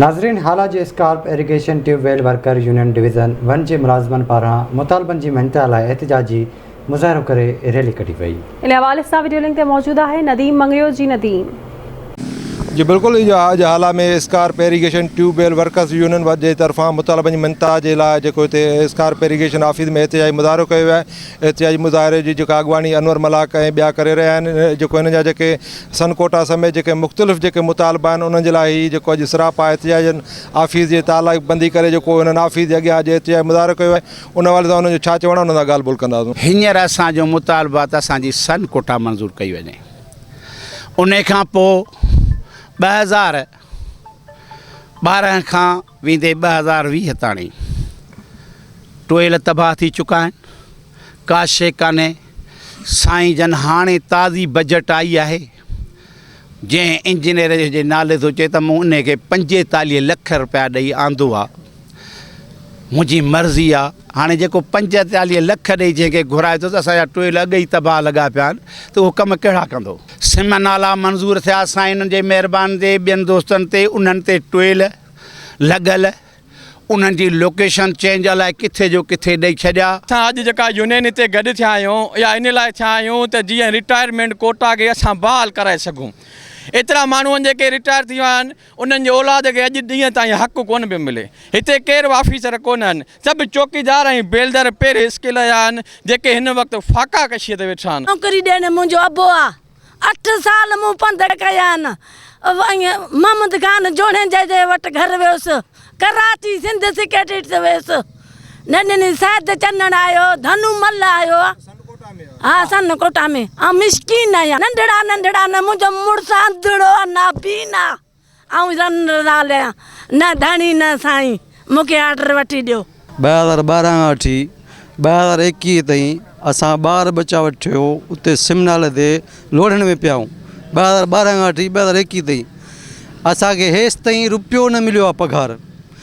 ناظرين هالا جي SCARP irrigation tube well worker union division one جي ملازمن پاران مطالبن جي مڃتا لاء احتجاجي مظاهرو ڪري ريلي ڪڍي وئي. ان حوالي سان وڊيو لنڪ تي موجود آهي نديم مڱريو جي نديم. جي بلڪل اهو آهي جو Hala ۾ SCARP irrigation tube well workers union one جي طرفان مطالبن جي مڃتا جي لاء جيڪو هتي اسڪارپ ايريگيشن آفيس ۾ احتجاجي مظاهرو ڪيو ويو آهي احتجاجي مظاهري جي جيڪا اڳواڻي انور ملاڪ ۽ ٻيا ڪري رهيا آهن جيڪو هن جا جيڪي سن ڪوٽا سميت جيڪي مختلف جيڪي مطالبا آهن انهن جي لاء هي جيڪو اڄ سراپا احتجاجن آفيس جي تالا بندي ڪري جيڪو هنن آفيس جي اڳيان اڄ احتجاجي مظاهرو ڪيو آهي ان حوالي سان انهن جو ڇا چوڻ آهي انهن سان ڳالهه ٻولهه ڪنداسون. هينئر اسان جو مطالبو آهي ته اسان جي سن ڪوٽا منظور ڪئي وڃي انهي کان پوء ٻه هزار ٻارهن کان ويندي ٻه هزار ويهه تاڻي ٽوئل تباهه ٿي چڪا آهن ڪا شي ڪانهي سائين جن هاڻي تازي بجيٽ آئي آهي جنهن انجنيئر جي نالي ٿو چئي ته مون ان کي پنجيتاليهه لک روپيا ڏئي آندو آهي منهنجي مرضي آهي هاڻي جيڪو پنجيتاليهه لک ڏئي جنهن کي گهرائي ٿو ته اسان جا ٽوئل اڳ ئي تباهه لڳا پيا آهن ته اهو ڪم ڪهڙا ڪندو. سم نالا منظور ٿيا سائين جي مهرباني تي ٻين دوستن تي انهن تي ٽوئل لڳل انهن جي لوڪيشن چينج الائي ڪٿي جو ڪٿي ڏئي ڇڏيا. اسان اڄ جيڪا يونين هتي گڏ ٿيا آهيون اها ان لاء ٿيا آهيون ته جيئن رٽائرمينٽ ڪوٽا کي اسان بحال ڪرائي سگهون ايترا ماڻهون جيڪي رٽائر ٿي ويا آهن انهن جي اولاد کي اڄ ڏينهن تائين حق ڪونه پيو ملي. هتي ڪير به آفيسر ڪونه آهن. سڀ چوڪيدار ۽ بيلدر پير اسڪيل جا آهن، جيڪي هن وقت فاقا ڪشيء تي ويٺا آهن. نوڪري ڏيندڙ منهنجو ابو آ. اٺ سال مون پنڌ ڪيا آهن. ائين محمد خان جوڻيجي جي وٽ گهر ويس. ڪراچي سنڌ سيڪريٽريٽ ويس. نه ڏني سيد چنڙ آيو ڌنو مل آيو ها سن ڪوٽا ۾ آ مسڪين آهيان ننڍڙا ننڍڙا نه منهنجو مڙس انڌڙو آ نه بين آ آئون رن رال آهيان نه ڌڻي نه سائين مونکي آرڊر وٺي ڏيو. ٻه هزار ٻارهن کان وٺي ٻه هزار ايڪيهه تائين اسان ٻار ٻچا وٺيو اتي سم نالي تي لوڙهڻ ۾ پيا آهيون ٻه هزار ٻارهن کان وٺي ٻه هزار ايڪيهه تائين اسان کي هيستائين روپيو نه مليو آهي پگهار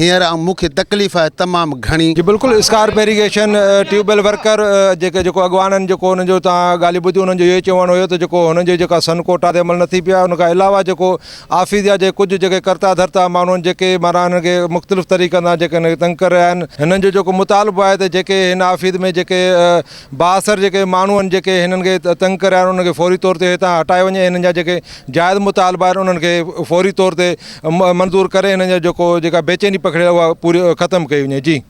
هينئر مون کي تڪليف آهي تمام گهڻي. جي بلڪل SCARP irrigation tube well worker جيڪي جيڪو اڳواڻن جيڪو انهن جو تان ڳالهيون ٻڌيون انهن جو اهو ئي چوڻ هيو ته جيڪو هنن جي جيڪا سن ڪوٽا تي عمل نٿي پيو آهي ان کان علاوه جيڪو آفيس جا جي ڪجهه جيڪي ڪرتا ڌرتا ماڻهو آهن جيڪي معنيٰ هنن کي مختلف طريقن سان جيڪي هنن کي تنگ ڪري رهيا آهن هنن جو جيڪو مطالبو آهي ته جيڪي هن آفيس ۾ جيڪي بااثر جيڪي ماڻهو آهن جيڪي هنن کي تنگ ڪري رهيا آهن انهن کي فوري طور تي هتان هٽايو وڃي ۽ هنن جا جيڪي جائز مطالبا آهن انهن کي فوري طور تي منظور ڪري هنن جا جيڪو جيڪا بيچيني پکڙيل آهي اها پوري ختم ڪئي وڃي جي